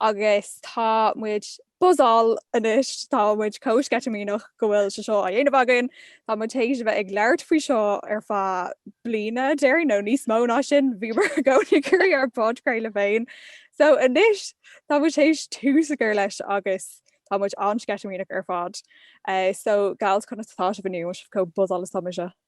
agus tá muid buzzáil anois, tá muid chomh sceitimíneach go bhfuil sé seo á dhéanamh againn. Tá muid théis a bheith ag labhairt faoi seo ar feadh bliana déarfainn nó níos mó ná sin, bhíomar i gcónaí ag caint ar podchraoladh féin. So anois tá muid théis tús a chur leis agus tá muid an-sceitimíneach ar fad. So Gaeil chun an stáitse inniu, an bhfuil sibh chomh buzzáil is atáimse.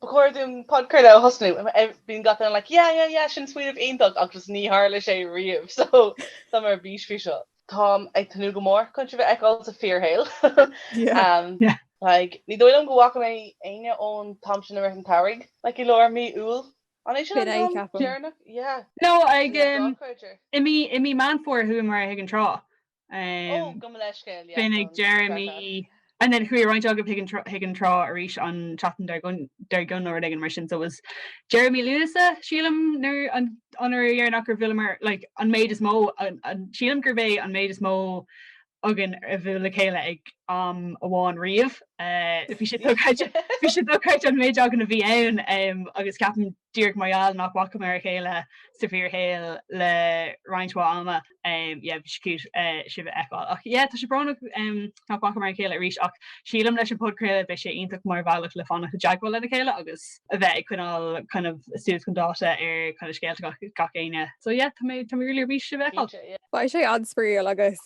Ba chóir dúinn podchraoladh a thosnú. Bíonn gach duine like yeah yeah yeah sin smaoineamh iontach agus ní tharlaíonn sé riamh so tá mé ar bís faoi seo. Táim ag tnúth go mór chun sibh a fheiceáil sa bhfíorshaol. Like ní dóigh liom go bhfaca mé éinne ón am sin a rith an tsamhraidh like i lár mí Iúil. An é sin an uair dheireanach? Yeah. No, ach i mí Meán Fómhair a chuamar chuig an trá. Ó, go mba leithscéal, yeah, go mba. And then chuaigh roinnt agaibh chuig an trá arís an tseachtain dar gcionn nó rud éigin mar sin, so it was deireadh mí Lúnasa, sílim, an uair dheireanach ar bhuaileamar, like, an méid is mó, sílim gurb é an méid is mó againn a bhuail le chéile ag am amháin riamh. Bhí sé dochreidte an méid againn a bhí ann agus ceapaim Díreach mar gheall nach bhfacamar a chéile sa bhfíorshaol le roinnt ama, yeah, bhí sé cute sibh a fheiceáil. Ach yeah, tá sé brónach nach bhfacamar a chéile arís ach sílim leis an podchraoladh beidh sé iontach mar bhealach le fanacht i dteagmháil lena chéile agus a bheith ag coinneáil kind of suas chun dáta ar kind of scéalta gach éinne. So yeah, tá mé tá mé really ar bís sibh a fheiceáil. Beidh sé an-spraíúil agus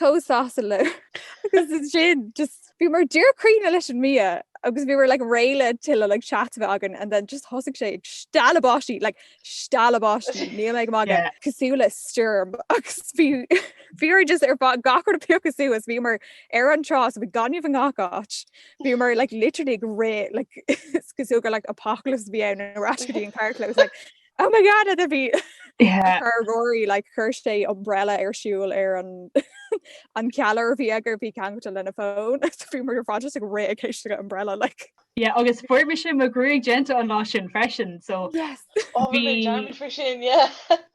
Chomh sásta leo agus ansin just bhíomar díreach críochnaithe leis an mbia agus bhíomar like réidh le tuilleadh like chat a bheith againn and then just thosaigh sé ag stealladh báistí like stealladh báistí níl mé ag magadh yeah. cosúil le stoirm agus bhí bhíomar just ag iarraidh gach rud a phiocadh suas bhíomar ar an trá so bhí gaineamh i ngach áit bhíomar like literally ag rith like is cosúil gur like apocalypse bhí ann ar ais go dtí an carclós like Oh my god agus bhí ar Rory like chuir sé umbrella ar siúl ar an an callaire a bhí aige a bhí ceangailte lena fón bhíomar ar fad just ag rith ag éisteacht le umbrella. Yeah, agus fuair mise mo ghruaig déanta an lá sin freisin so sin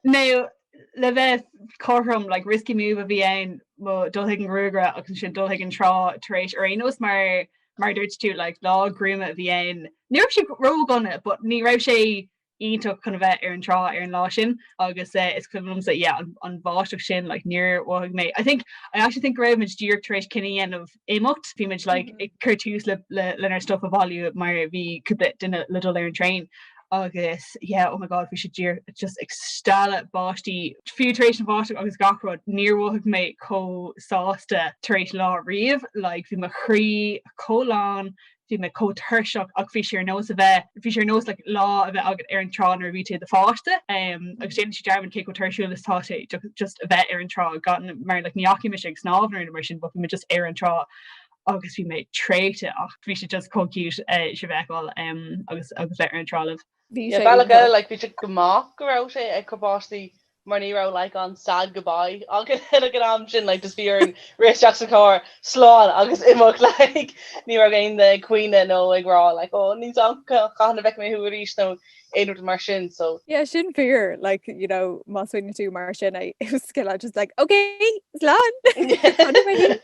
nó le bheith cothrom like risky move a bhí ann dul chuig an gruagaire agus ansin dul chuig an trá tar éis ar aon nós mar mar dúirt tú like lá gruama a bhí ann. Ní raibh sé ródhona but ní raibh sé iontach chun a bheith ar an trá ar an lá sin agus eh, is cuimhin liomsa yeah, an, an bháisteach sin like, níor bhac mé. I think, I actually think go raibh muid díreach tar éis cinneadh a dhéanamh imeacht, bhí muid like, mhm. ag cur tús le, le, lenár stuff a bhailiú mar bhí cúpla duine le dul ar an traein agus yeah, oh my god bhí sé díreach just ag stealladh báistí fiú tar éis an bháisteach agus gach rud níor mhothaigh mé chomh sásta tar éis lá riamh, like, bhí mo chroí chomh lán bhí mé chomh tuirseach ach bhí sé ar nós a bheith, bhí sé ar nós like lá a bheith agat ar an trá nuair a bhí tú i do pháiste em agus déanann tú dearmad cé chomh tuirsiúil is atá sé ju- just a bheith ar an trá gan mar like ní fhaca mise ag snámh nó mar sin but bhí mé just ar an trá agus bhí mé traochta ach bhí sé just chomh cute eh, is a bheith ag ól em agus agus bheith ar an trá libh. Bhí sé ag rá. Bhí sé go maith go raibh sé ag cur báistí mar ní raibh like an sad goodbye againn ag an am sin like just bhí orainn rith isteach sa charr slán agus imeacht like ní raibh aon duine ag caoineadh nó ag rá like oh níl a fhios agam cathain a fheicfidh mé thú arís nó aon rud mar sin so. Yeah sin fíor like you know má smaoiníonn tú mar sin I was just kinda just like ok slán!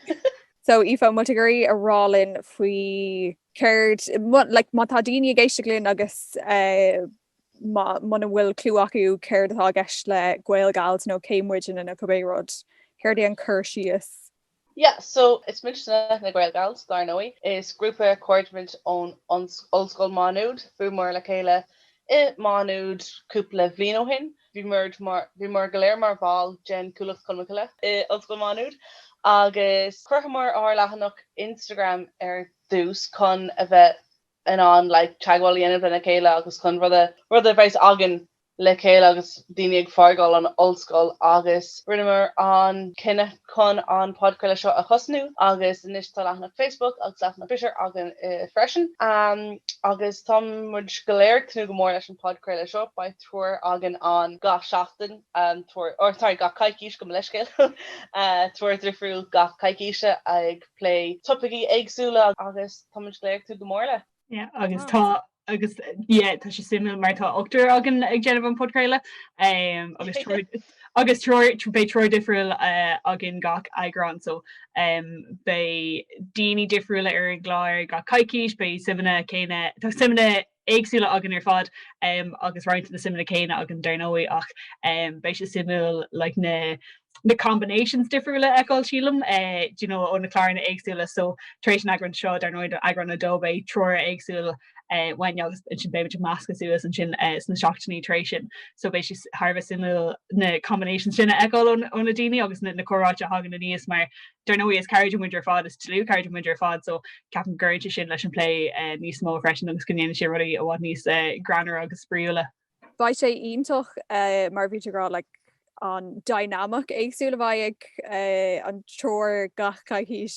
So Aoife, molta ag iarraidh a rá linn faoi Céard, like, má tá daoine ag éisteacht linn agus má, muna bhfuil clue acu céard atá i gceist le GaelGals nó cé muidne nó cibé rud, céard é an cur síos? Yeah, so is muidne na GaelGals, dar ndóigh. Is grúpa cairde muid ón Ollscoil Má Nuad. Bhuaileamar le chéile i Má Nuad cúpla bliain ó shin. Bhíomar go léir mar bhall den Chuallacht Cholmcille i Ollscoil Mhá Nuad agus chruthaíomar ár leathanach Instagram ar dtús chun a bheith in ann like teagmháil a dhéanamh lena chéile agus chun rud a rud a bheith againn le chéile agus daoine ag fágáil an ollscoil agus rinneamar an cinneadh chun an podchraoladh seo a thosnú agus anois tá leathanach Facebook agus leathanach Twitter againn freisin agus tá muid go léir ag tnúth go mór leis an podchraoladh seo beidh triúr againn ann gach seachtain, triúr, or sorry, gach coicís, gabh mo leithscéal, triúr difriúil gach coicís ag plé topaicí éagsúla agus táimid go léir ag tnúth go mór leis. Yeah, agus tá, agus yeah, tá sé suimiúil mar tá ochtar againn ag déanamh an podchraoladh, um, agus triúr, agus triúr, beidh triúr difriúil uh, againn gach eagrán, so um, beidh daoine difriúla ar an gclár, gach coicís, beidh suimeanna céanna, tá suimeanna éagsúla againn ar fad agus roinnt de na suimeanna céanna againn dar ndóigh ach beidh sé suimiúil like na na combinations difriúla a fheiceáil sílim do you know ó na cláranna éagsúla so tar éis an eagráin seo dar ndóigh eagrán a dó beidh triúr éagsúil uainn agus ansin beidh muid ag meascadh suas ansin sna seachtainí tar éis sin so beidh sé thar a bheith suimiúil na combinations sin a fheiceáil ó na daoine agus na comhráite a thagann aníos mar Dar ndóigh, is cairde muid ar fad, is dlúthchairde muid ar fad, so ceapaim go gcuidíonn sé sin leis an plé níos mó freisin agus go ndéanann sé rudaí i bhfad níos greannaire agus spraíúla. Beidh sé iontach mar a bhí tú ag rá like an dynamic éagsúil a bheidh ag an triúr gach coicís.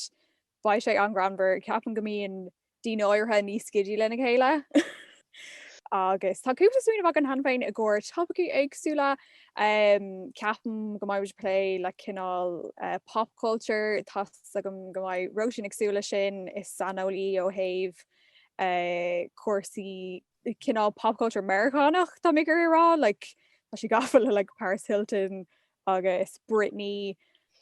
Beidh sé an-ghreannmhar. Ceapaim go mbíonn daoine áirithe níos skiddy lena chéile agus tá cúpla smaoineamh agam cheana féin i gcomhair topaicí éagsúla. Ceapaim go mbeidh muid ag plé le cineál pop culture, tá fhios agam go mbeidh Róisín ag súil leis sin, is saineolaí í ó thaobh cúrsaí cineál pop culture Meiriceánach tá mé ag iarraidh a rá, like tá sí gafa le like Paris Hilton agus Britney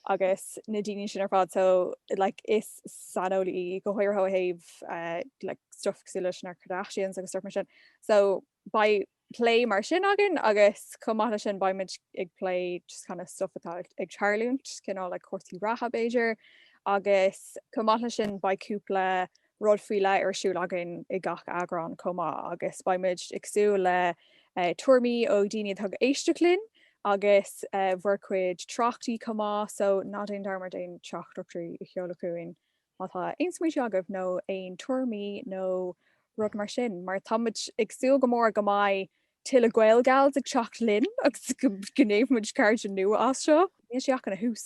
agus na daoine sin ar fad so like is saineolaí go háirithe ó thaobh eh, like stuff cosúil leis na Kardashians agus stuff mar sin. So beidh plé mar sin againn agus chomh maith leis sin beidh muid ag plé just kind of stuff atá ag- ag tarlúint cineál like cúrsaí reatha b'fhéidir agus chomh maith leis sin beidh cúpla rud faoi leith ar siúl againn i gach eagrán chomh maith agus beidh muid ag súil le tuairimí ó dhaoine atá ag éisteacht linn agus bhur chuid tráchtaí chomh maith, so ná déan dearmad aon teachtaireachtaí a sheoladh chugainn má tá aon smaointe agaibh nó aon tuairimí nó rud mar sin mar tá muid ag súil go mór go mbeidh tuilleadh Gaelgals ag teacht linn agus go ndéanfaimid cairde nua as seo. Níl sé ach ina thús!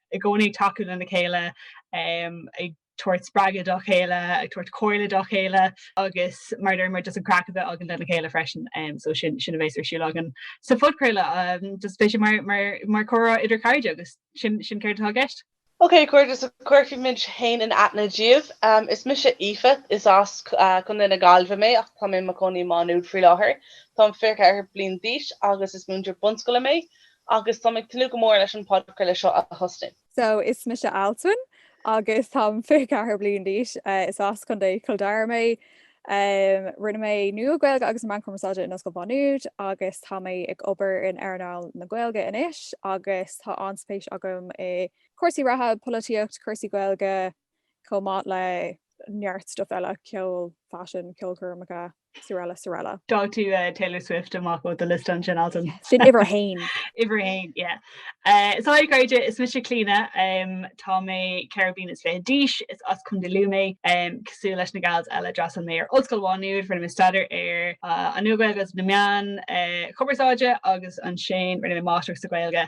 i gcónaí ag tacú lena chéile, ag tabhairt spreagadh dá chéile, ag tabhairt comhairle dá chéile agus mar a deir muid just an craic a bheith againn lena chéile freisin. So sin sin a bhéas ar siúl againn sa phodchraoladh. Just beidh sé mar mar mar comhrá idir chairde agus sin sin céard atá i gceist. Ok a chairde so cuirfidh muid féin in aithne díobh. Is mise Aoife, is as Contae na Gaillimhe mé ach tá mé i mo chónaí i Má Nuad faoi láthair. Táim 24 bliain d'aois agus is múinteoir bunscoile mé. agus táim ag tnúth go mór leis an podchraoladh seo a thosnú. So, is mise Altan agus táim 24 bliain d'aois. Is as Contae Chill Dara mé. Rinne mé Nua Gaeilge agus Meáin Chumarsáide in Ollscoil Mhá Nuad agus tá mé ag obair in earnáil na Gaeilge anois agus tá an-spéis agam i gcúrsaí reatha, polaitíocht, cúrsaí Gaeilge, chomh maith le neart stuif eile, ceol, faisean, ceolchoirmeacha, srl. srl. D'fhág tú Taylor Swift amach ó do liosta ansin, Altan. Sin uimhir a haon. Uimhir a haon, yeah. So a chairde, is mise Clíona, tá mé ceithre bliain is fiche d'aois, is as Contae Lú mé. Cosúil leis na gals eile d'fhreastail mé ar Ollscoil Mhá Nuad, rinne mé staidéar ar an Nua-Ghaeilge agus na meáin chumarsáide agus ansin rinne mé máistreacht sa Ghaeilge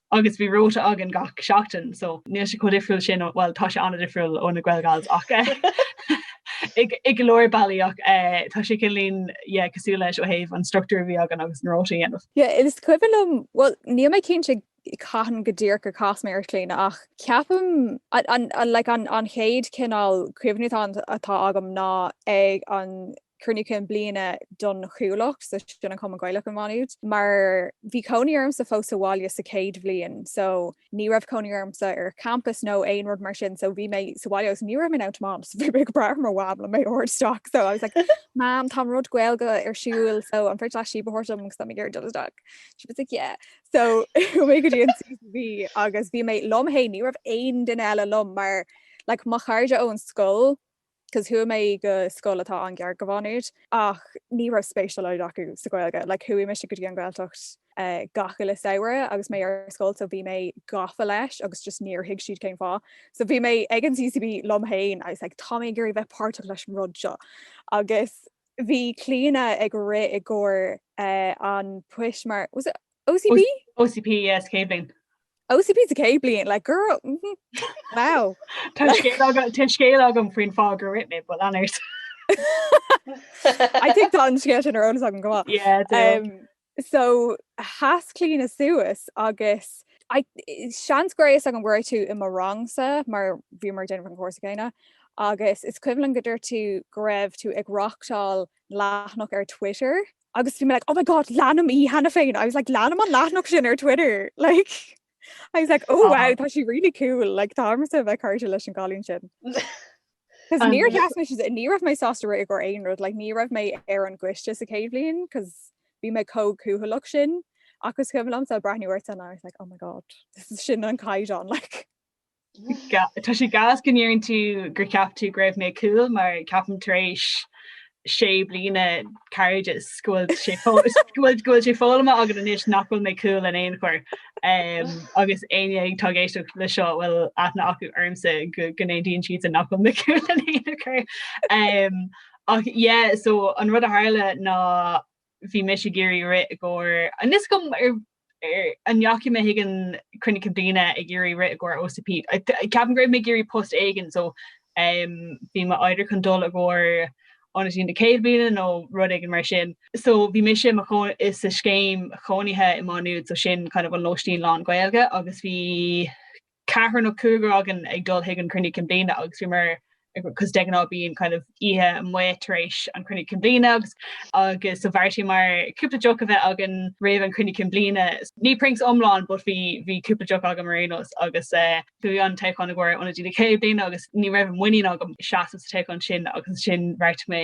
agus bhí róta againn gach seachtain so níl sé chomh difriúil sin ó bhuel tá sé an-difriúil ó na Gaelgals ach i i go leor bealaí ach eh tá sé cineáilín yeah cosúil leis ó thaobh an structúr a bhí againn agus na róta a dhéanamh. Yeah is cuimhin liom bhuel níl mé cinnte cathain go díreach gur chas mé ar Chlíona ach ceapaim an an like an an chéad cineál cuimhne atá atá agam ná ag an cruinniú cinn bliana don Chuallacht, so sin an Cumann Gaelach i Maigh Nuad, mar bhí cónaí ormsa fós sa bhaile sa chéad bhliain, so ní raibh cónaí ormsa ar champas nó aon rud mar sin, so bhí mé sa bhaile so ní raibh mé in ann tiomáint, so bhí mé ag brath ar mo mham le mé a thabhairt isteach, so I was like mam tá rud Gaeilge ar siúl so an féidir leat síob a thabhairt dom agus tá mé ag iarraidh dul isteach. She was like yeah. So chuaigh mé go dtí an CCB agus bhí mé liom féin ní raibh aon duine eile liom mar like mo chairde ón scoil cos chuaigh mé go scoil atá an-ghar do Mhá Nuad ach ní raibh spéis dá laghad acu sa Ghaeilge. Like chuaigh mise go dtí an Ghaeltacht gach uile samhradh agus mé ar scoil so bhí mé gafa leis agus just níor thuig siad cén fáth. So bhí mé ag an CCB liom féin I was like tá mé ag iarraidh bheith páirteach leis an rud seo agus bhí Clíona ag rith i gcomhair an poist mar was it OCP? OCP, yeah, sa chéad bliain. OCP sa céad bliain, like, girl, mhm, wow. Tá scéal agam- tá scéal agam faoin fáth gur rith mé, but lean ort. I think tá an scéal sin ar eolas agam go maith. Yeah, do. Um, so, sheas Clíona suas agus I, seans go raibh a fhios agam go raibh tú i mo rangsa mar bhíomar ag déanamh an chúrsa céanna agus is cuimhin liom go dúirt tú go raibh tú ag reachtáil leathanach ar Twitter Agus bhí mé like, oh my god, leanaim í cheana féin. I was like, leanaim an leathanach sin ar Twitter. Like, I was like, oh wow, tá sí really cool. Like, tá uaimse bheith cairde leis an gcailín sin. Cos níor sheas mé ní raibh mé sásta rith i gcomhair aon rud, like, ní raibh mé ar an gcoiste sa chéad bhliain, cos bhí mé chomh cúthalach sin. Agus is cuimhin liomsa breathnú ortsa and I was like, oh my god, this is sin an caighdeán, like. Tá sé gas go ndeireann tú gur cheap tú go raibh mé cool mar ceapaim tar éis sé bliana cairdis go bhfuil sé foghlamtha agat anois nach bhfuil mé cool in aon chor. Agus éinne atá ag éisteacht le seo a bhfuil aithne acu ormsa go n-aontaíonn siadsan nach bhfuil mé cool in aon chor. Ach yeah so an rud a tharla ná bhí mise ag iarraidh rith i gcomhair, níl a fhios agam ar Ar an ndeachaigh mé chuig an Chruinniú Cinn Bliana ag iarraidh rith i gcomhair OCP? Ceapaim go raibh mé ag iarraidh post éigin so bhí mé either chun dul i gcomhair Ionadaí na Céad Bliana nó rud éigin mar sin. So bhí mise sa scéim chónaithe i Má Nuad so sin kind of an lóistín lán-Gaeilge agus bhí ceathrar nó cúigear againn ag dul chuig an Chruinniú Cinn Bliana agus bhíomar cos de ghnáth bíonn kind of oíche amuigh tar éis an Chruinniú Cinn Bliana agus agus so bheartaíomar cúpla deoch a bheith againn roimh an Chruinniú Cinn Bliana. Ní prinks iomlán but bhí bhí cúpla deoch agam ar aon nós agus eh bhí an toghchán i gcomhair ionadaí na chéad bliana agus ní raibh an mhuinín agam seasamh sa toghchán sin agus ansin bheartaigh mé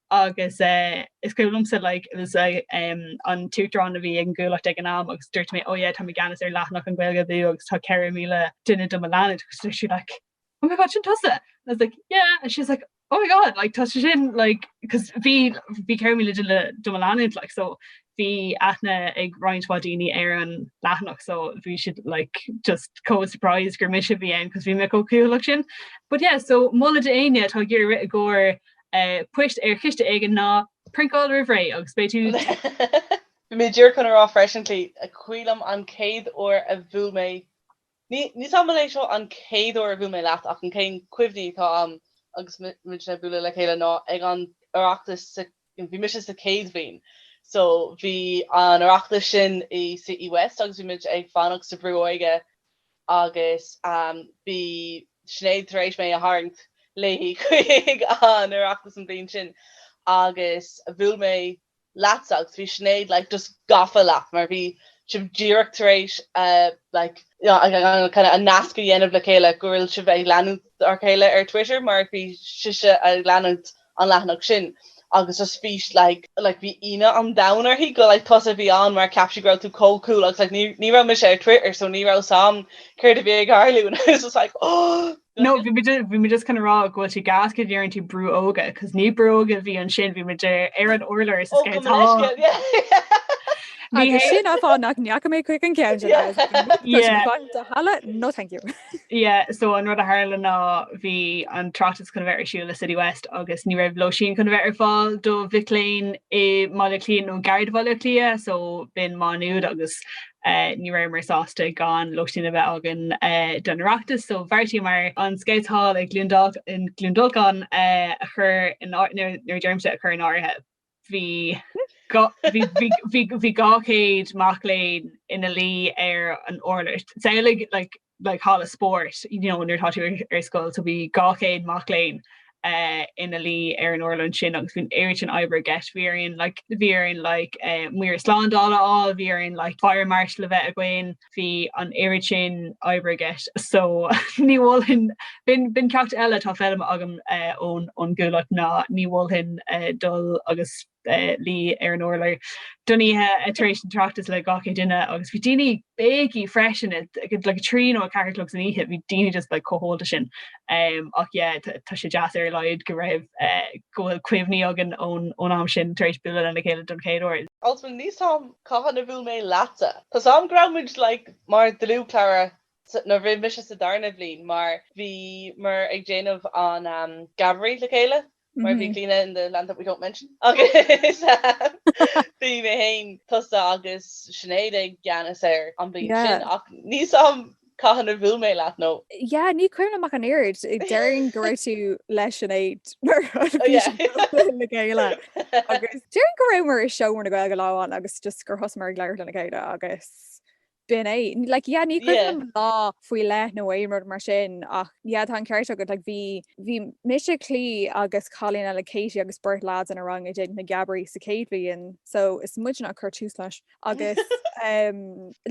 agus is cuimhin liomsa like it was an tUachtarán a bhí ag an gCuallacht ag an am agus dúirt mé oh yeah tá mé i gceannas ar leathanach an Ghaeilge Abú agus tá 4,000 duine do mo leanúint agus dúirt sí like oh my god sin tusa? I was like yeah and she was like oh my god like tá sé sin like cos bhí bhí 4,000 duine do mo leanúint like so bhí aithne ag roinnt mhaith daoine ar an leathanach so bhí siad like just chomh surprised gur mise a bhí ann cos bhí mé chomh cúthaileach sin. But yeah so moladh d'éinne atá ag iarraidh rith i gcomhair poist ar choiste éigin ná prinkáil roimh ré agus beidh tú. Bhí mé díreach chun a rá freisin Clí is cuimhin liom an chéad uair a bhuail mé Níl a fhios a'm ab é seo an chéad uair a bhuail mé leat ach an t-aon chuimhne atá a'm agus muid ag bualadh le chéile ná ag an Oireachtas so bhí mise sa céad bhliain so bhí an Oireachtas sin i City West agus bhí muid ag fanacht sa Bhrú Óige agus bhí Sinéad tar éis mé a tharraingt léi chuig an Oireachtas an bhliain sin agus bhuail mé leatsa agus bhí Sinéad like just gafa leat mar bhí sibh díreach tar éis like kind of an nasc a dhéanamh le chéile go bhfuil sibh ag leanúint a chéile ar Twitter mar bhí sise ag leanúint an leathanach sin agus just bhí sí like like bhí ionadh an domhain uirthi go like tusa a bhí ann mar cheap sí go raibh tú chomh cool agus like ní ní raibh mise ar Twitter so ní raibh a fhios a'm céard a bhí ag tarlú and I was just like oh No, bhí mé bhí mé just chun a rá go bhfuil sé gas go ndeireann tú brú óige, cos ní brú óige a bhí ansin bhí muid ar an urlár i scout hall. Sin an fáth nach ndeachaigh mé chuig an ceann de halla no thank you. Yeah so an rud a tharla ná bhí an tOireachtas chun bheith ar siúil i City West agus ní raibh lóisín chun bheith ar fáil do mhic léinn i mBaile Átha Cliath nó gar do Bhaile Átha Cliath so b'in Má Nuad agus uh, ní rabhamar sásta gan lóisín a bheith againn uh, don Oireachtas so bheartaíomar an Scout Hall i gCluain Dolcáin uh, a chur nuair a deirimse a chur in áirithe. Bhí dhá chéad mac léinn ina luí ar an urlár. Samhlaigh like like halla spóirt you know nuair atá tú ar scoil. So bhí dhá chéad mac léinn ina luí ar an urlár ansin agus bhí an oiread sin oibre i gceist. Bhí orainn like bhí orainn like maoir slándála a fháil, bhí orainn like Fire Marshal a bheith againn. bhí an oiread sin oibre i gceist so ní mholfainn, b'in ceacht eile atá foghlamtha agam ón gcuallacht ná ní mholfainn dul agus luí ar an urlár don oíche tar éis an Oireachtas le dhá chéad duine agus bhí daoine ag béicíl freisin like a trí nó a ceathair a chlog san oíche bhí daoine just like chomh hólta sin ach yeah tá sé deas ar a laghad go raibh go bhfuil cuimhní againn ón am sin tar éis bualadh lena chéile don chéad uair. An bhfuil níos Cathain a bhuail mé leatsa? Tá fhios agam go raibh muid like mar dlúthchara nuair a bhí mise sa darna bhliain mar bhíomar ag déanamh an um, Geabairí le chéile mar bhí Clíodhna in the land that we don't mention agus bhí mé héin tusa agus Sinéad i gceannas air an bhliain sin ach níl fhios agam cathain a bhuail mé leat nó. Yeah, ní cuimhin liom ach an oiread. Déarfainn go raibh tú le Sinéad mar bhí sibh le chéile. Agus déarfainn go rabhamar i seomra na Gaeilge lá amháin agus just gur thosamar ag labhairt lena chéile agus b'in é. Like, yeah, ní cuimhin liom lá faoi leith nó aon rud mar sin ach yeah, tá an ceart agat. Like, bhí, bhí mise, Clíodh agus cailín eile, Katie, agus beirt leaids inár rang ag déanamh na Geabairí sa chéad bhliain so is muidne a chuir tús leis. agus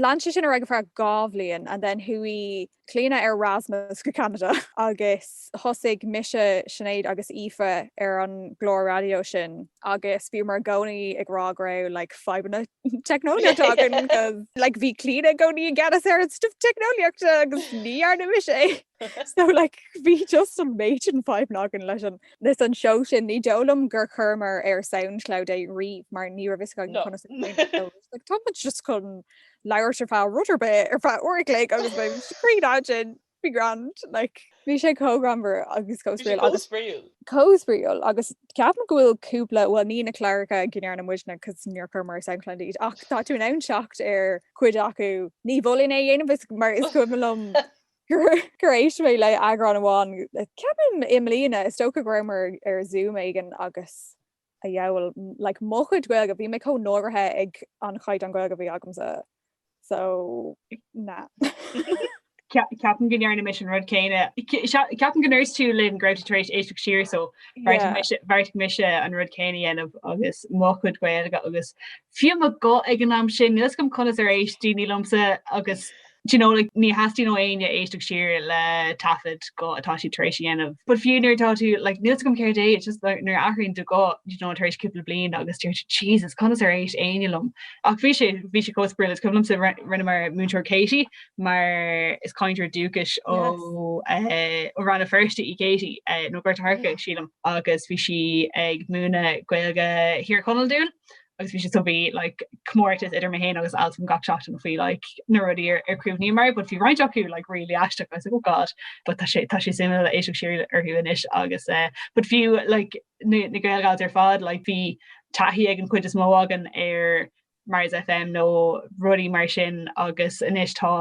lean sé sin ar aghaidh for dhá bhliain and then chuaigh Clíodhna ar Erasmus go Canada agus thosaigh mise Sinéad agus Aoife ar an gclár raidió sin agus bhíomar i gcónaí ag rá go raibh like fadhbanna teicneolaíochta againn like bhí Clíodhna i gcónaí i gceannas ar an stuff teicneolaíochta agus ní dhearna mise é so like bhí just an méid sin fadhbanna againn leis an Leis an seó sin, ní dóigh liom gur chuireamar ar Soundcloud é riamh mar ní raibh fhios agam conas é a dhéanamh so. Like tá muid just chun labhairt ar feadh rud ar bith ar feadh uair a chloig agus beidh muid cruinn adean, be grand like. Bhí sé chomh greannmhar agus chomh spraíúil agus. Bhí sé chomh spraíúil. Chomh spraíúil agus ceapaim go bhfuil cúpla, bhuel ní na cláracha go ndearna muidne cos níor chuireamar ar Soundcloud iad ach tá tú in ann teacht ar cuid acu. Ní mholfainn é a dhéanamh is mar is cuimhin liom Gur éist mé le eagrán amháin, ceapaim i mbliana, is dócha go rabhamar ar Zoom éigin agus a dhiabhail, like, mo chuid Gaeilge, bhí mé chomh náirithe ag an chaighdeán Gaeilge a bhí agamsa, so, nah. Ceapaim go ndearna mise an rud céanna, ceapaim go ndúirt tú linn go raibh tú tar éis éisteacht siar, so, bheartaigh mise an rud céanna a dhéanamh agus mo chuid Gaeilge agus fiú mo guth ag an am sin, níl fhios agam conas ar éist daoine liomsa agus Do you know, like, ní theastaíonn ó éinne éisteacht siar le taifead go atá siad tar éis a dhéanamh. But fiú nuair atá tú, like, níl fhios agam céard é, it's just like, nuair a athraíonn do ghuth, do you know, tar éis cúpla bliain agus deir tú, Jesus, conas ar éist éinne liom? Ach bhí sé, bhí sé chomh spraíúil, is cuimhin liomsa ri- rinneamar Múinteoir Katie, mar is cainteoir dúchais ó, eh, ó Rann na Feirste í Katie, eh, nó Gort an Choirce, sílim, agus bhí sí ag múineadh Gaeilge Thír Chonaill dúinn agus bhí sé so bhí like comórtas idir mé héin agus Alswyn gach seachtain faoi like na rudaí ar ar chuimhníomar but bhí roinnt acu like really aisteach I was like oh god but tá sé tá sé suimiúil ag éisteacht siar orthu anois agus eh but fiú like na na Gael Gals ar fad like bhí taithí ag an chuid is mó againn ar Mars FM nó rudaí mar sin agus anois tá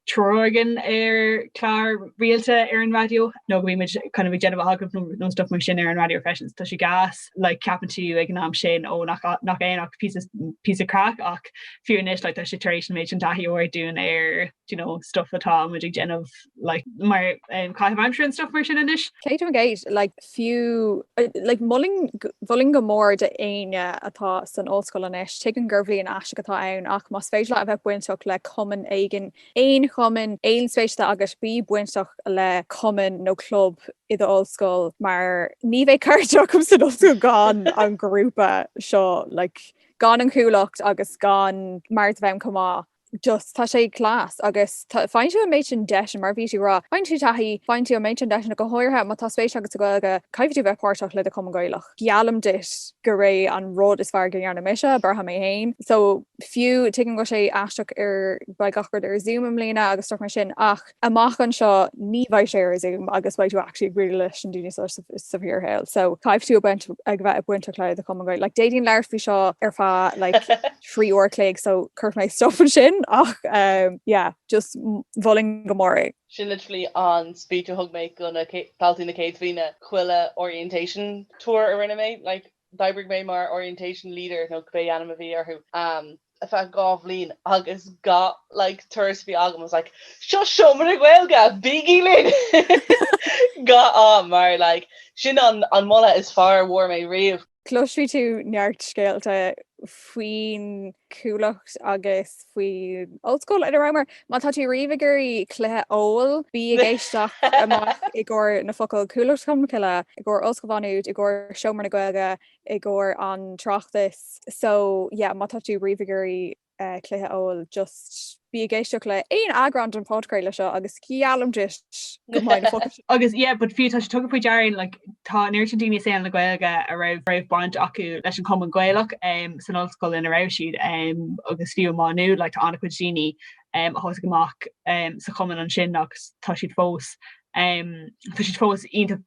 tabhairt faoi chlár rialta ar an raidió nó go mbímid kind of ag déanamh agallamh nó stuff mar sin ar an raidió freisin. Tá sé gas like ceapann tú ag an am sin ó nach nach é ach píosa píosa craic ach fiú anois like tá sé tar éis an méid sin taithí a thabhairt dúinn ar you know stuff atá muid ag déanamh like mar um, caitheamh aimsire and stuff mar sin anois. Céad faoin gcéad, like fiú. Mholfainn go mór d'éinne atá san ollscoil anois, tuigim gur bliain aisteach atá ann, ach más féidir leat a bheith bainteach le cumann éigin, aon chumann, aon spéis atá agat, bí bainteach le cumann nó club i d'ollscoil mar ní bheadh cara agam san ollscoil gan an grúpa seo, gan an chuallacht agus gan Mairéad Ní Bhriain chomh maith. just tá sé class agus faigheann tú an méid sin deiseanna, mar a bhí tú ag rá, faigheann tú taithí, faigheann tú an méid sin deiseanna, go háirithe má tá spéis agat sa Ghaeilge, caithfidh tú bheith páirteach le do Chumann Gaelach. Geallaim duit gur é an rud is fearr go ndearna mise, braithim mé féin, so fiú tuigim go bhfuil sé aisteach mar beidh gach rud ar Zoom i mbliana agus stuff mar sin ach, amach anseo ní bheidh sé ar Zoom agus beidh tú actually ag éirí leis na daoine seo sa bhfíor shaol. So caithfidh tú ag bheith bainteach le do Chumann Gaelach. Like d'fhéadfainn labhairt faoi seo ar feadh like trí uair a chloig so cuirfidh mé stop ansin ach um, yeah, just mholfainn go mór é. Sin literally an speech a thug mé go na daltaí na céad bhliana chuile orientation tour a rinne mé. Like D'oibrigh mé mar orientation leader, nó cibé ainm a bhí orthu, ar feadh dhá bhliain agus gach like turas a bhí agam, I was like, seo seomra na Gaeilge, bígí linn! Gach am, mar like sin an an moladh is fearr a bhfuair mé riamh. Cloisfidh tú neart scéalta faoin. gCuallacht agus faoin Ollscoil ina rabhamar. Má tá tú riamh ag iarraidh cluiche óil, bí ag éisteacht amach i gcomhair na focail 'Cuallacht Cholmcille', i gcomhair Ollscoil Mhá Nuad, i gcomhair Seomra na Gaeilge, i gcomhair an tráchtas so yeah má tá tú riamh ag iarraidh cluiche óil just Bí ag éisteacht le aon eagrán den phodchraoladh seo agus geallaim duit go mbeidh na focail sin. Agus yeah but fiú tá sé tugtha faoi deara againn like tá an oiread sin daoine i saol na Gaeilge a raibh raibh baint acu leis an Chumann Gaelach em san ollscoil ina raibh siad em agus fiú amach inniu like tá an-chuid daoine em a thosaigh amach em sa Chumann ansin agus tá siad fós em tá siad fós iontach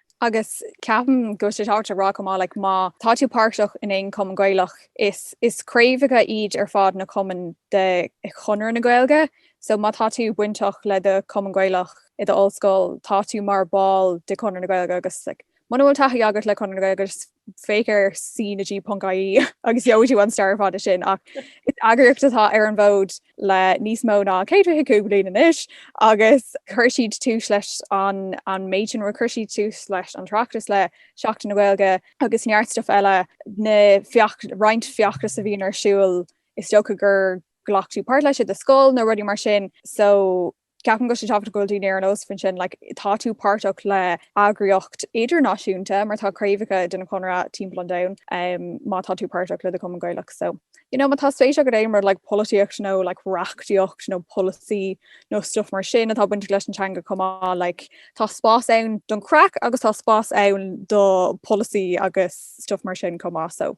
Agus ceapaim go bhfuil sé tábhachtach a rá chomh maith, like má tá tú páirteach in aon Chumann Gaelach, is is craobhacha iad ar fad na cumainn de Chonradh na Gaeilge, so má tá tú bainteach le do Chumann Gaelach i do ollscoil, tá tú mar ball de Chonradh na Gaeilge agus like muna bhfuil taithí agat le Conradh na Gaeilge, just. féach ar CnaG.ie agus gheobhaidh tú an stair fada sin ach is eagraíocht atá ar an bhfód le níos mó ná 125 bliain anois agus chuir siad tús leis an an méid sin chuir siad tús leis an Oireachtas le Seachtain na Gaeilge agus neart stuif eile na feach- roinnt feachtas a bhíonn ar siúl is dócha gur ghlac tú páirt leis i do scoil nó rudaí mar sin so Ceapaim go bhfuil sé tábhachtach cuimhneamh ar nós faoi sin, like, tá tú páirteach le eagraíocht idirnáisiúnta mar tá craobhacha den Chonradh timpeall an domhain um má tá tú páirteach le do Chumann Gaelach so you know má tá spéis agat in aon rud like polaitíocht nó like reachtaíocht nó polasaí nó stuff mar sin atá bainteach leis an teanga chomh maith like tá spás ann don craic agus tá spás ann do polasaí agus stuff mar sin chomh maith so.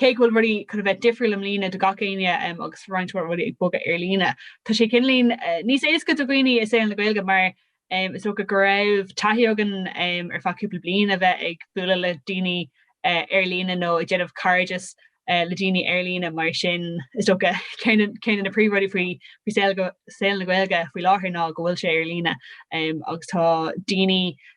Cé go bhfuil rudaí chun bheith difriúil i mbliana do gach éinne agus roinnt mhaith rudaí ag bogadh ar líne, tá sé cineál níos éasca do dhaoine i saol na Gaeilge mar is dócha go raibh taithí againn ar feadh cúpla bliain a bheith ag bualadh le daoine ar líne nó ag déanamh cairdeas le daoine ar líne mar sin is dócha ceann de na príomhrudaí faoi saol na Gaeilge faoi láthair ná go bhfuil sé ar líne agus tá daoine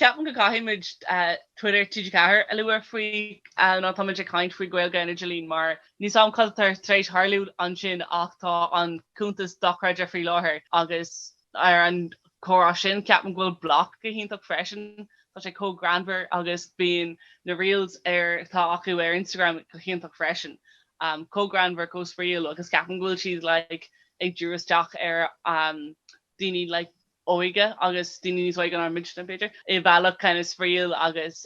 Ceapaim go gcaithfidh muid Twitter TG4 a lua má táimid ag caint faoi Gaeilge an Idirlín mar níl a fhios agam cad atá tar éis tharlú ansin ach tá an cuntas dochreidte faoi láthair agus ar an gcomhrá sin ceapaim go bhfuil BLOC go hiontach freisin tá sé chomh greannmhar agus bíonn na reels atá acu ar Instagram go hiontach freisin um, chomh greannmhar chomh spraíúil agus ceapaim go bhfuil siad like, ag díriú isteach ar um, daoine like óige agus daoine níos óige ná muidne b'fhéidir, i mbealach kind of spraíúil agus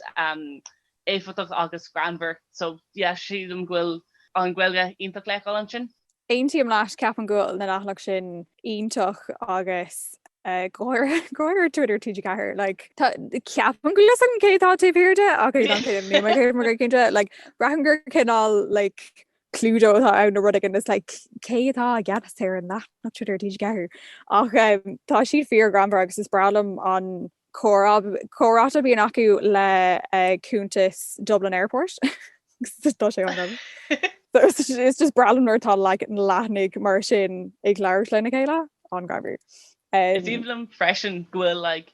éifeachtach agus greannmhar. So yeah, sílim go bhfuil an Ghaeilge iontach le feiceáil ansin. Aontaím leat, ceapaim go bhfuil na leathanaigh sin iontach agus go háirithe Twitter TG4 like tá ceapaim go leis cé atá taobh thiar de ach an chéad ní mar chéad mar cinnte like braithim gur cineál like Cluedo atá ann nó rud éigin is like cé atá i gceannas ar an leathanach Twitter TG4? Ach em, tá siad fíor-ghreannmhar agus is breá liom an comhrá comhrá a bhíonn acu le eh, cuntas Dublin Airport. Agus tá sé an So it's just, it's just breá liom nuair tá like, na leathanaigh mar sin ag labhairt lena chéile an-ghreannmhar. Is um, aoibhinn liom freisin go bhfuil like,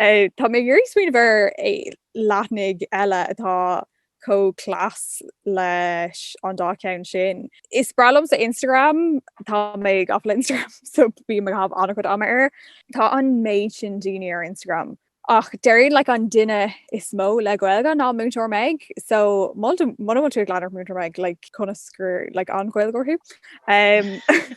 Tá mé ag iarraidh smaoineamh ar leathanaigh eile atá chomh class leis an dá cheann sin. Is breá liomsa Instagram, tá mé gafa le Instagram so bím ag caitheamh an-chuid ama air. Tá an méid sin daoine ar Instagram ach déarfainn like an duine is mó le Gaeilge ná Múinteoir Meg so muna bhfuil tú ag leanúint Múinteoir Meg like conas gur like an Gaeilgeoir thú?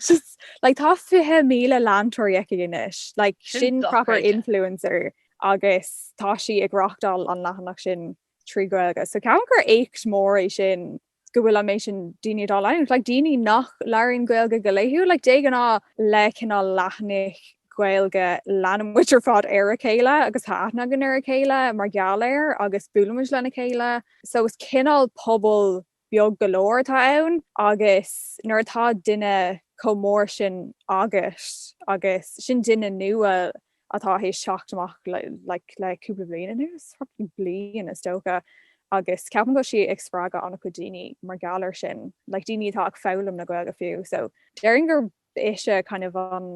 Just Like tá 20,000 leantóirí aici anois. Like Sin sin proper influencer agus tá sí ag reáchtáil an leathanach sin trí Ghaeilge. So ceapaim gur éacht mór é sin go bhfuil an méid sin daoine á leanúint. Like daoine nach labhraíonn Gaeilge go laethúil. Like de ghnáth le cineál leathnaigh Ghaeilge leanann muid ar fad ar a chéile agus tá aithne againn ar a chéile mar gheall air agus buailimid lena chéile. So is cineál pobal beag go leor atá ann agus nuair atá duine chomh mór sin agus sin duine nua atá tar éis teacht amach like le cúpla bliain anuas probably bliain is dócha agus ceapaim go bhfuil sí ag spreagadh an-chuid daoine mar gheall ar sin like daoine atá ag foghlaim na Gaeilge fiú so déarfainn gur ise kind of an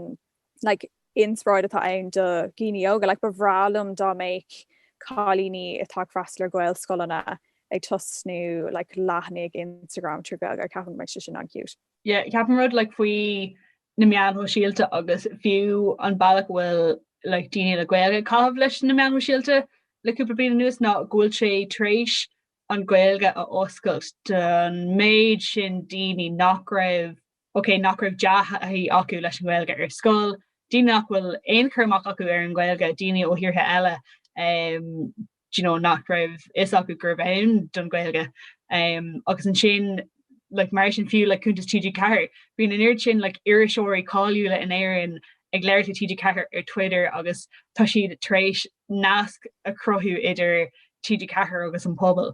like inspioráid atá ann do dhaoine óga. Like ba bhreá liom dá mbeadh cailíní atá ag freastal ar Ghaelscoileanna ag tosnú like leathanaigh Instagram trí Ghaeilge. Ceapaim go mbeadh sé sin an-cute. Yeah, ceapaim rud like faoi na meáin shóisialta agus fiú an bealach a bhfuil like daoine le Gaeilge ag caitheamh leis na meáin shóisialta le cúpla bliain anuas ná go bhfuil sé tar éis an Ghaeilge a oscailt don méid sin daoine nach raibh OK, nach raibh dea-thaithí acu leis an nGaeilge ar scoil, daoine nach bhfuil aon chur amach acu ar an nGaeilge, daoine ó thíortha eile do you know nach raibh fhios acu gurbh ann don Ghaeilge agus ansin like mar sin fiú le cuntas TG4. Bhí an oiread sin like iriseoirí cáiliúla in Éirinn ag labhairt le TG4 ar Twitter agus tá siad tar éis nasc a chruthú idir TG4 agus an pobal.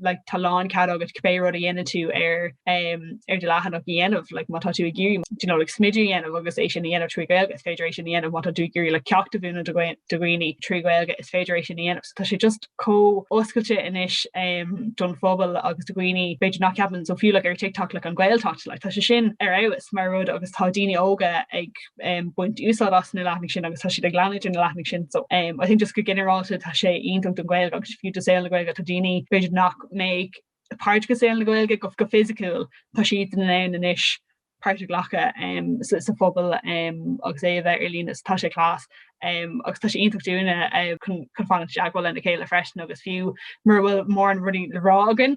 like tá lán cead agat cibé rud a dhéanann tú ar um, ar do leathanach a dhéanamh like má tá tú ag iarraidh you know, like, smidiú a dhéanamh agus é sin a dhéanamh trí Ghaeilge is féidir é sin a dhéanamh má tá tú ag iarraidh like, ceacht a mhúineadh do dhaoine trí Ghaeilge is féidir é sin a dhéanamh so tá sé just chomh oscailte anois um, don phobal agus do dhaoine b'fhéidir nach ceapann so fiú like, ar tiktok like, an Ghaeltacht like, tá sé sin ar fás mar rud agus tá daoine óga ag um, baint úsáid as na leathanaigh sin agus tá siad ag leanúint ar na leathanaigh sin. So um, I think just go ginearálta tá sé iontach don Ghaeilge agus fiú do shaol na Gaeilge tá daoine b'fhéidir nach mbeadh páirteach i saol na Gaeilge go go fisiciúil tá siad in ann anois páirt a ghlacadh um, sa, sa phobal um, agus é a bheith ar líne so tá sé class. Um, agus tá sé iontach dúinne uh, chun fanacht i dteagmháil lena chéile freisin agus fiú mura bhfuil mórán rudaí le rá againn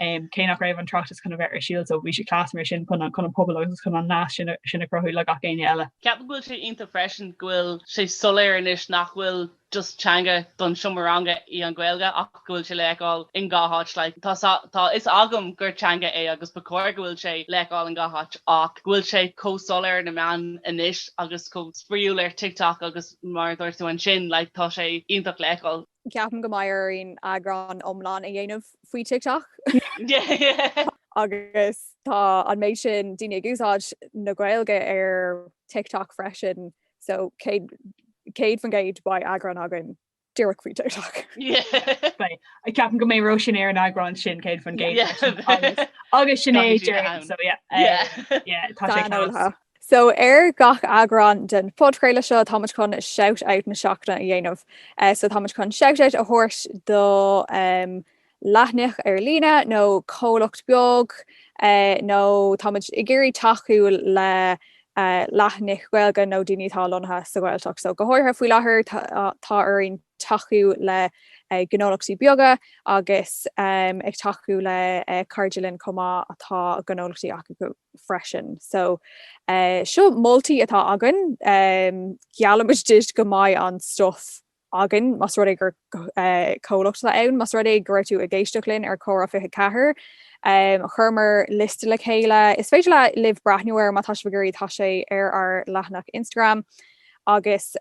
um, cé nach raibh an tOireachtas chun a bheith ar siúl so bhí sé class mar sin chun an pobal agus chun an nasc sin a chruthú le gach éinne eile. Ceapaim go bhfuil sé iontach freisin go bhfuil sé soiléir anois nach bhfuil just teanga don seomra ranga í an Ghaeilge ach go bhfuil sé le feiceáil in gach áit like, tá, tá fhios agam gur teanga é agus ba chóir go bhfuil sé le feiceáil in gach áit ach go bhfuil sé chomh soiléir sna meáin anois agus chomh spraíúil ar TikTok agus mar a dúirt tú ansin like, tá sé iontach le feiceáil. Ceapaim go mbeidh orainn eagrán iomlán a dhéanamh faoi TikTok. Agus tá an méid sin daoine ag úsáid na Gaeilge ar TikTok freisin so 100% beidh eagrán againn díreach faoi TikTok. Ceapaim go mbeidh Ró sin ar an eagrán sin 100% agus sin é dáiríre so yeah tá sé class. So, ar gach eagrán den phodchraoladh seo, táimid chun Shout Out na Seachtaine a dhéanamh. So táimid chun Shout Out a thabhairt do leathanaigh ar líne nó comhlacht beag nó táimid ag iarraidh tacú le leathanaigh Ghaeilge nó daoine atá lonnaithe sa Ghaeltacht. So go háirithe faoi láthair, tá orainn tacú le gnólachtaí beaga agus ag tacú le cairde linn chomh maith atá gnólachtaí acu. freisin. So seo moltaí atá againn. Geallaimid duit go mbeidh an stuff againn más rud é gur comhlacht atá ann, más rud é go raibh tú ag éisteacht linn ar Chomhrá 24. Chuireamar liosta le chéile, is féidir libh breathnú air má tá sibh ag iarraidh, tá sé ar ár leathanach Instagram agus.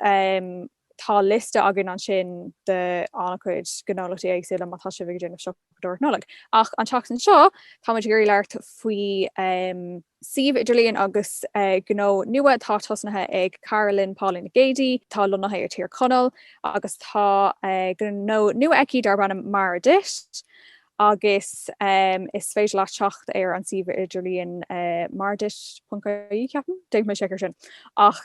tá liosta againn ansin d'an-chuid gnólachtaí éagsúla má tá sibh ag déanamh siopadóireacht Nollag. Ach an tseachtain seo, táimid ag iarraidh labhairt faoi suíomh idirlíon agus gnó nua atá tosnaithe ag cara linn, Pauline Nic Géidigh, atá lonnaithe i Tír Chonaill agus tá gnó nua aici darb ainm Mara Duit. agus is féidir leat teacht ar an suíomh idirlíon maraduit.ie, ceapaim, déanfaidh mé seic ar sin, ach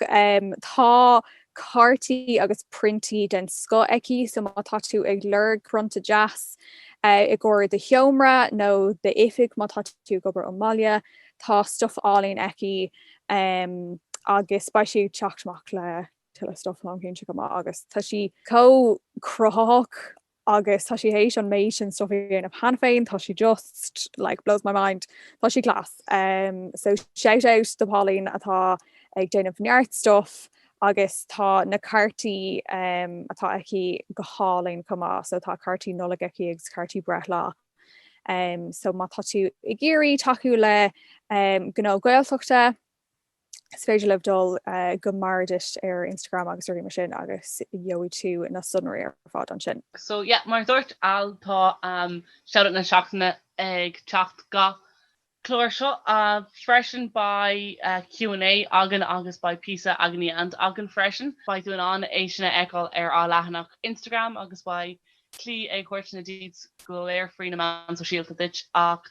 tá cártaí agus priontaí den scoth aici so má tá tú ag lorg prionta deas i gcomhair do sheomra nó d'oifig má tá tú ag obair ón mbaile, tá stuff álainn aici agus beidh sí ag teacht amach le tuilleadh stuff táim cinnte chomh maith agus tá sí chomh cruthaitheach agus tá sí théis an méid sin stuff a dhéanamh cheana féin, tá sí just like blows my mind, tá sí class um so shout out do Pauline atá ag déanamh neart stuff agus tá na cártaí um atá aici go hálainn chomh maith, so tá cártaí Nollag aici agus cártaí breithlá um so má tá tú ag iarraidh tacú le um gnó Gaeltachta, Is féidir libh dul go Mara Duit ar Instagram agus rudaí mar sin agus gheobhaidh tú na sonraí ar fad ansin. So yeah, mar a dúirt Al, tá Shout Out na Seachtaine ag teacht gach clár seo freisin. Beidh Q&A againn agus beidh píosa agony aunt againn freisin. Beidh tú in ann é sin a fheiceáil ar ár leathanach Instagram agus beidh Clí ag tabhairt na deets go léir faoi na meáin sóisialta duit ach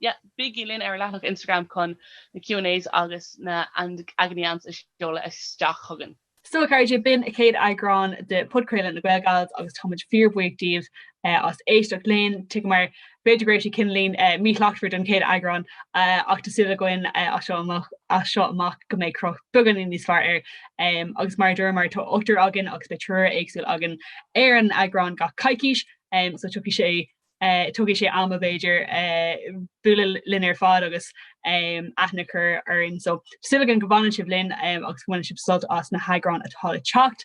yeah bígí linn ar leathanach Instagram chun na Q and A's agus na agony aunts a seoladh isteach chugainn. So a chairde b'in an chéad eagrán de Podchraoladh na Gaelgals agus táimid fíor-bhuíoch díbh as éisteacht linn. Tuigimid B'fhéidir go raibh sé cineáilín míshlachtmhar don chéad eagrán ach tá súil againn as seo amach go mbeidh cruth beagáinín níos fearr air agus mar a dúramar tá ochtar againn agus beidh triúr éagsúil againn ar an eagrán gach coicís so tiocfaidh sé tógfaidh sé am b'fhéidir bualadh linn ar fad agus aithne a chur orainn so tá súil againn go bhfanann sibh linn agus go mbaineann sibh sult as na heagráin atá le teacht.